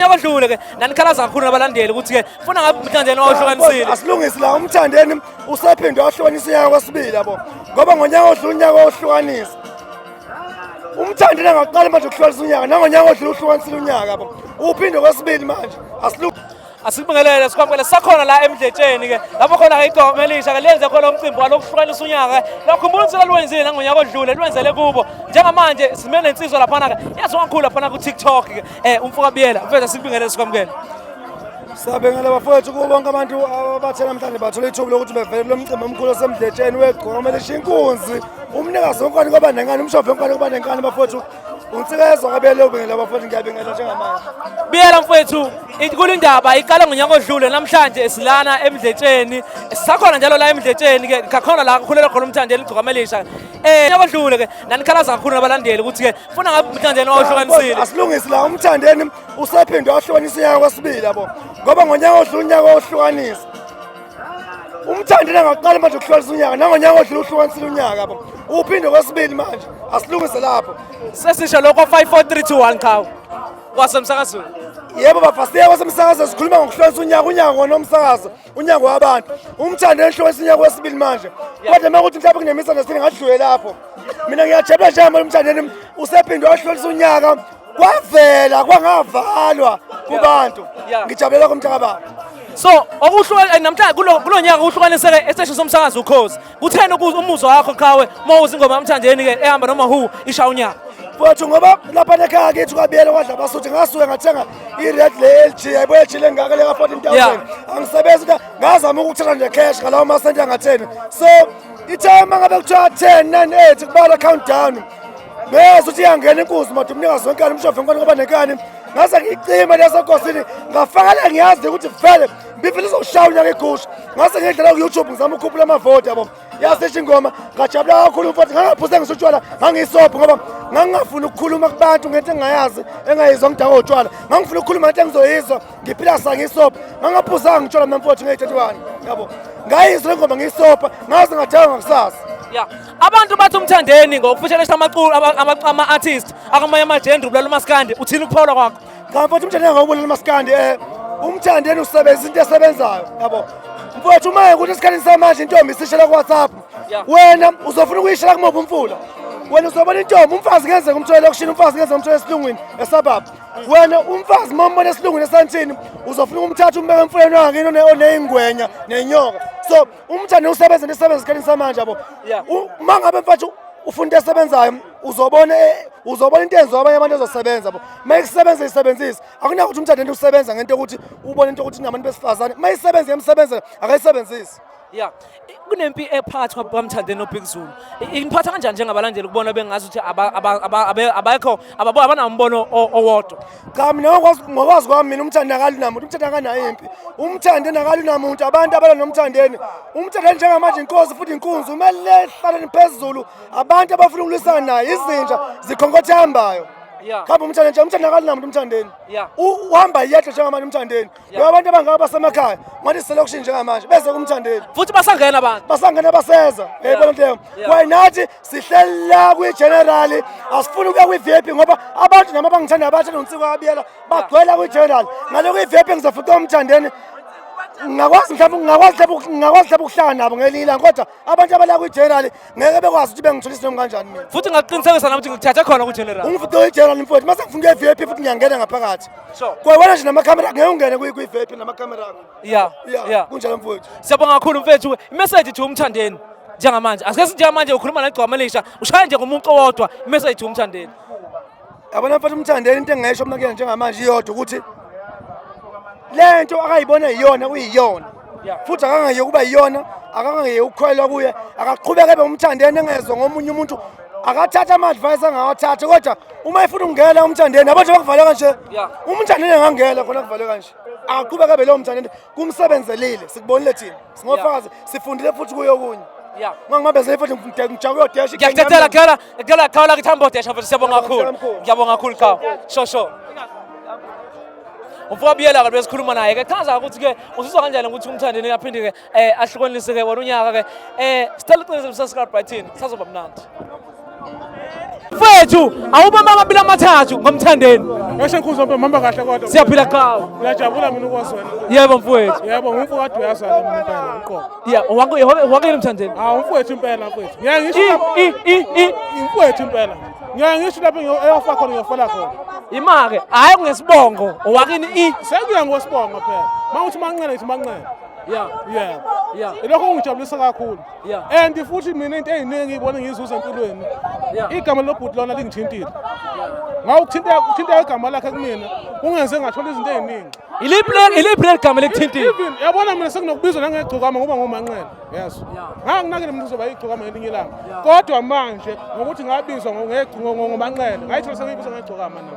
Unyaka odlule ke nanikhalaza kakhulu nabalandeli ukuthi ke funa ngabe umthandeni wawuhlukanisile. Asilungisi la umthandeni usephinde wahlukanisa unyaka kwesibili yabo. Ngoba ngonyaka odlule unyaka wahlukanisa. Umthandeni angaqala manje ukuhlukanisa unyaka nangonyaka odlule uhlukanisile unyaka yabo. Uphinde kwesibili manje asilungisi asikubingelele sikwamukele sakhona la emdletsheni ke lapho khona ke igoma elisha ke lenze khona umcimbi walokuhlukanisa unyaka lakhumbula ukuthi lwenzile nangonyaka odlule lwenzele kubo njengamanje simele insizwa laphana ke yazi wangikhulu laphana ku-tiktok ke Eh umfoka Biyela, mfethu sikubingelele sikwamukele. Siyabengela bafowethu kubo bonke abantu abathe namhlanje bathola ithuba lokuthi bevele kulo mcimbi omkhulu osemdletsheni wegqoma kumele ishiye inkunzi umnikazi wenkwane kwaba nenkani umshophi wenkwane kwaba nenkani bafowethu unsikezwa kabele ubengela bafowethu ngiyabengela njengamanje biyela mfowethu inkulu indaba iqala ngonyaka odlule namhlanje silana emdletsheni sisakhona njalo la emdletsheni ke ngakhona la kukhulelwa khona umthandi eligcokama elisha Eh nabadlule ke nanikhalaza kakhulu nabalandeli ukuthi ke funa ngabe umthandeni wawuhlukanisile. Asilungisi la umthandeni usephinde wahlukanisa unyaka kwesibili yabo. Ngoba ngonyaka odlula unyaka wohlukanisa. Umthandeni angaqala manje ukuhlukanisa unyaka nangonyaka odlula uhlukanisile unyaka yabo. Uphinde kwesibili manje asilungise lapho. Sesisho lokho 54321 cha. Wasemsakazweni. Yebo bafasiya wasemsakazweni sikhuluma ngokuhlukanisa unyaka unyaka ngonomsakazo. unyango wabantu umthando enhle wesinyango wesibili manje kodwa uma kuthi mhlawumbe kunemisa nesini ngadlule lapho mina ngiyajabula njengamanje umthandeni usephinde wahlolisa unyaka kwavela kwangavalwa kubantu ngijabulela komthakababa so okuhlukana namhlanje kulo nyaka kuhlukaniseke esiteshini somsakazo ukhozi Kutheni ukuze umuzwa wakho qhawe uma uzingoma yamthandeni ke ehamba noma hu isha unyaka. Mfowethu ngoba lapha nekhaya kithi kwabiyele kwadla abasuthi ngasuke ngathenga i-red le-LG yayibuye LG lengaka leka 14000 angisebenzi ngazama ukuthenga nje cash ngalawo masenti angatheni so ithe uma ngabe kuthiwa 10 9 8 kubala countdown bese uthi iyangena inkuzi madu umnikazi wenkani umshove inkani ngoba nenkani ngase ngiyicime leso nkosini ngafakala ngiyazi ukuthi vele ngifuna uzoshaya unyaka igusha ngase ngedlela ku-youtube ngizama ukukhuphula amavoti yabo yasisho ingoma ngajabula kakhulu mfowethu ngangaphuze ngisutshwala ngangiyisobho ngoba ngangingafuni ukukhuluma kubantu ngento engingayazi engayizwa ngidakwa utshwala ngangifuna ukukhuluma ngento engizoyizwa ngiphila sangiyisobho ngangaphuzanga ngitshwala mina mfowethu ngeyi-31 yabo ngayizwa le ngoma ngiyisobha ngaze ngadakwa ngakusasa ya abantu bathi umthandeni ngokufushelesha amaculu ama-artist akamanye amajendri ubulala umaskandi uthini ukuphawula kwakho Cha mfowethu umthandi engawubulala umaskandi eh umthandi yena usebenzisa into esebenzayo yabo. Mfowethu uma ukuthi esikhathini samanje intombi isishela ku WhatsApp. Wena uzofuna ukuyishela kumuphi umfula? Wena uzobona intombi umfazi ngenzeka umthwele lokushini umfazi ngenzeka umthwele esilungwini esababa. Wena umfazi uma umbona esilungwini esantshini uzofuna ukumthatha umbeke emfuleni wakhe oneyingwenya nenyoka. So umthande usebenze nesebenza esikhathini samanje yabo uma ngabe mfethu ufuna into esebenzayo uzobona e, uzobona into enziwa abanye abantu ezosebenza bo uma isebenza isebenzise akunayo ukuthi umthande into usebenza ngento yokuthi ubone into yokuthi nabantu besifazane uma isebenza yemsebenzela akayisebenzisi ya kunempi ephathwa bamthande nobig zulu iniphatha kanjani njengabalandeli ukubona bengazi ukuthi abekho abanawo umbono owodwa cha mina ngokwazi kwami mina umthandi akali namuntu umthandi akanayo impi umthandi nakali namuntu abantu abala nomthandeni umthandi njengamanje inkosi futhi inkunzi umele hlaleni phezulu abantu abafuna ukulwisana naye izinja zikhonkothe hambayo khamba umthandi nje umthandi akali namuntu umthandeni uhamba yedwa njengamanje umthandeni ngoba abantu abangaka basemakhaya ngathi selection njengamanje beze kumthandeli futhi basangena abantu basangena baseza yayibona nto kwaye nathi sihleli la kwigenerali asifuni ukuya kwi-vip ngoba abantu nami abangithanda abathanda unsiko abiyela bagcwela kwigenerali ngale kwi-vip ngizafuqa umthandeni ngingakwazi mhlawumbe ngingakwazi mhlawumbe ukuhlala nabo ngelinye ilanga kodwa abantu abala kwi-general ngeke bekwazi ukuthi bengithola isinomi kanjani mina futhi ngakuqinisekisa nami ukuthi ngikuthathe khona kwi-general ungifike kwi-general mfowethu mase ngifuna ukuya e-vip futhi ngiyangena ngaphakathi kwewena nje namakhamera ngeke ungene kwi-vip namakhamera akho ya ya kunjalo mfowethu siyabonga kakhulu mfethu imeseji thi umthandeni njengamanje asike sinjengamanje ukhuluma negcwama elisha ushaya nje ngomuntu owodwa imeseji umthandeni yabona mfana umthandeni into engayisho mna kuyena njengamanje iyodwa ukuthi le nto akayibona yiyona kuyiyona futhi akangayeki ukuba yiyona akangayeki ukukhwelwa kuye akaqhubeke ebe umthandeni engezwe ngomunye umuntu akathatha ama-advice angawathatha kodwa uma efuna ukungena umthandeni abantu bakuvaleka nje umthandeni angangena khona kuvaleka nje akaqhubeke ebe leyo mthandeni kumsebenzelile sikubonile thina singofakazi sifundile futhi kuyo okunye Yeah. Ngangibambezele futhi ngijaka uyodesha. Ngiyakuthathela khala, ngicela khala ukuthi hambe odesha futhi siyabonga kakhulu. Ngiyabonga kakhulu cha. Sho sho. Umfoka Biyela ke besikhuluma naye ke chaza ukuthi ke uzizwa kanjani ukuthi umthande ni aphinde ke eh ahlukanise ke wona unyaka ke eh sicela uqinisele uSascar Brighton sazoba mnandi. mfethu awubamba amabili amathathu ngomthandeni ngasho ngikhuzwa mbe mhamba kahle kodwa siyaphila qhawe ngiyajabula mina ukwazwela yebo mfowethu yebo ngumfowethu uyazwela mina impela uqobo ya wako wako yini mthandeni ah umfowethu impela mfowethu ngiyangisho i i i umfowethu impela ngiyangisho lapho eyofa khona ngiyofela khona imake hayi kungesibongo owakini i sekuya ngosibongo phela mawuthi manqele ngithi manqele ya ya ya lokho kungijabulisa kakhulu and futhi mina into eyiningi ibona ngiyizuza empilweni igama lobhuti lona lingithintile ngawuthinteka igama lakhe kumina kungenze ngathola izinto eziningi iliphi leli gama likuthintile yabona mina sekunokubizwa nangegcokama ngoba ngomanqele yes nganginakele mina uzoba igcokama ngelinye ilanga kodwa manje ngokuthi ngabizwa ngomanqele ngayithola sengiyibizwa ngegcokama nami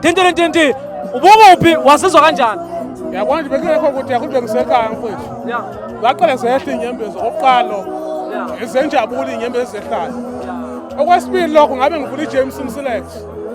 Tintintinti ubukuphi wasizwa kanjani? Yabona nje bekungekho ukuthi yakho bengisekhaya mfethu. Yeah. Ngaqale zehla inyembezi oqalo. Yeah. Izenjabula inyembezi zehlala. Okwesibili lokho ngabe ngivula iJames Msilex.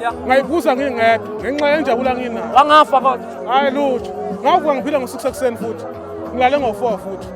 Yeah. Ngayibuza ngingedwa ngenxa yenjabula nginayo. Wangafa kodwa. Hayi lutho. Ngavuka ngiphila ngo-6 ekuseni futhi. Ngilale ngo-4 futhi.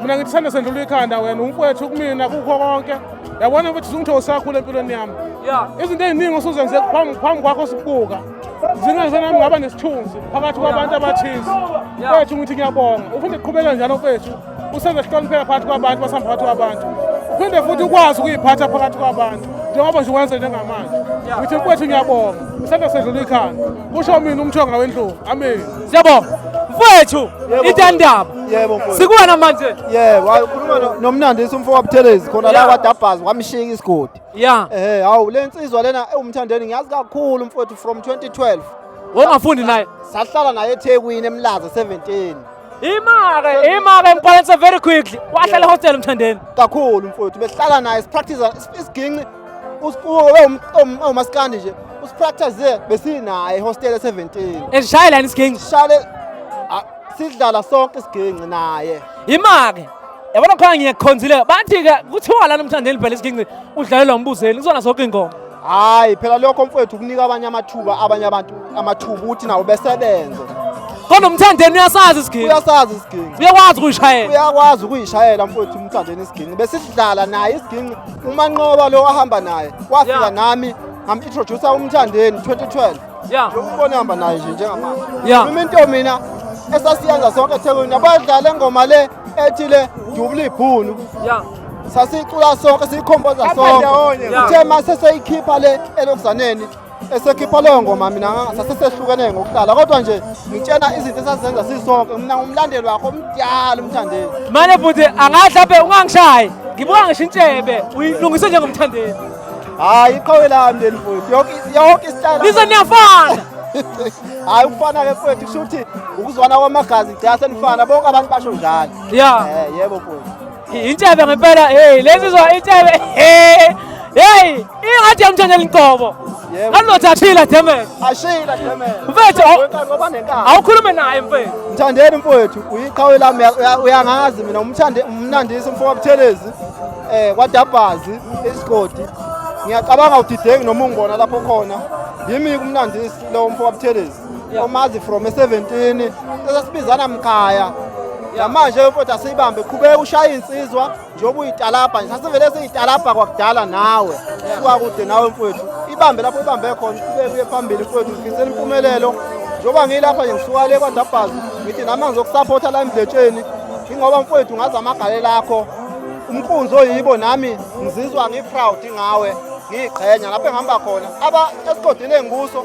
mina ngithi sanda sendlula ikhanda wena umfowethu kumina kukho konke yabona ukuthi zungithe usakhula empilweni yami izinto ey'ningi osuzenze phambi kwakho sibuka zingazenami ngaba nesithunzi phakathi kwabantu abathize mfowethu ngithi ngiyabonga uphinde qhubeka njalo mfowethu usenze sihlonipheka phakathi kwabantu basihamba phakathi kwabantu uphinde futhi ukwazi ukuyiphatha phakathi kwabantu njengoba nje wenze njengamanje ngithi mfowethu ngiyabonga isanda sedlula ikhanda kusho mina umthonga wendlovu amen Siyabonga. Mfowethu itandaba. Yebo mfowethu. Sikuwena manje. Yebo, wakhuluma no- nomnandisi umfo wabuthelezi khona la Yeah. kwadabhazi wamshika isigodi. Yeah. Eh, hawu le nsizwa lena ewumthandeni ngiyazi kakhulu mfowethu from 2012. Wongafundi naye. Sahlala naye eThekwini eMlaza 17. Imake, imake emphalanisa very quickly. Wahlala hostel mthandeni. Kakhulu mfowethu behlala naye sipractice isiginci umaskandi nje usipractice besinaye hostel 17 esishaya lani isiginci shale sidlala sonke isiginci naye imake yabona khona ngiyakhonzile bathi ke kuthiwa lana umthandeni phela isiginci udlalela umbuzeli kuzona zonke ingoma hayi phela lokho mfowethu kunika abanye amathuba abanye abantu amathuba ukuthi nawo besebenze kodwa umthandeni uyasazi isiginci uyasazi isiginci uyakwazi ukuyishayela uyakwazi ukuyishayela mfowethu umthandeni isiginci besidlala naye isiginci umanqoba lo ahamba naye wafika Yeah. nami ngamintrodhusa umthandeni 2012 ya lokubona ehamba naye nje njengamanje Ya. noma into mina esasiyenza sonke ethekwini abadlala engoma le ethi le dubula ibhunu ya sasicula sonke siyikhomboza sonke ndawonye. uthe uma seseyikhipha le elokuzaneni esekhipha leyo ngoma mina sasesehlukene ngokuhlala kodwa nje ngitshena izinto esazenza sisonke mina ngumlandeli wakho omdala umthandeni mane bhuti angahle aphe ungangishayi ngibuka ngisho intshebe uyilungise njengomthandeni hayi iqhawe lami leli futhi yonke isitayela lize niyafana hayi ukufana-ke futhi kusho ukuthi ukuzwana kwamagazi gcina senifana bonke abantu basho njalo ya eh, yebo futhi Intshebe ngempela hey lensizwa intshebe hey hey ingathi yamthandela inqobo anothathile demen ashila demen mfethu awukhulume naye mfethu mthandeni mfethu uyiqhawe lami uyangazi mina umthande umnandisi umfoka buthelezi eh kwadabhazi isigodi ngiyacabanga udidengi noma ungona lapho khona yimi kumnandisi lo mfoka buthelezi omazi from e-17 esasibizana mkhaya yamanje imfoti asiyibambe qhubeka ushaya insizwa njengoba uyitalabha nje sasivele siyitalabha kwakudala nawe suka kude nawe mfowethu ibambe lapho ibambe khona qhubeke uye phambili mfowethu ngifisela impumelelo njengoba ngiyilapha nje ngisuka le kwadabhazi ngithi nami angizokusaphotha la emdletsheni ingoba mfowethu ngazi amagale lakho umqunzi oyibo nami ngizizwa ngiproud ngawe ngiyiqhenya lapho engihamba khona aba esigodini engikuso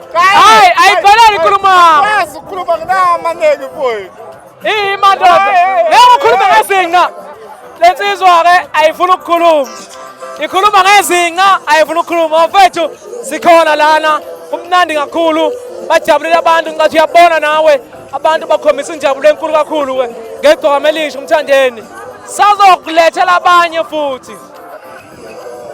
Hayi ayibhalali inkulumo. Wazi ukhuluma nginamaneki mfowethu. Iyi madoda. Ngeke ukhulume ngezinqa. Lensizwa ke ayifuni ukukhuluma. Ikhuluma ngezinqa ayifuni ukukhuluma. Mfowethu sikhona lana. Kumnandi kakhulu. Bajabulile abantu ngathi uyabona nawe. Abantu bakhombisa injabulo enkulu kakhulu ke. Ngegcokama elisha umthandeni. Sazokulethela abanye futhi.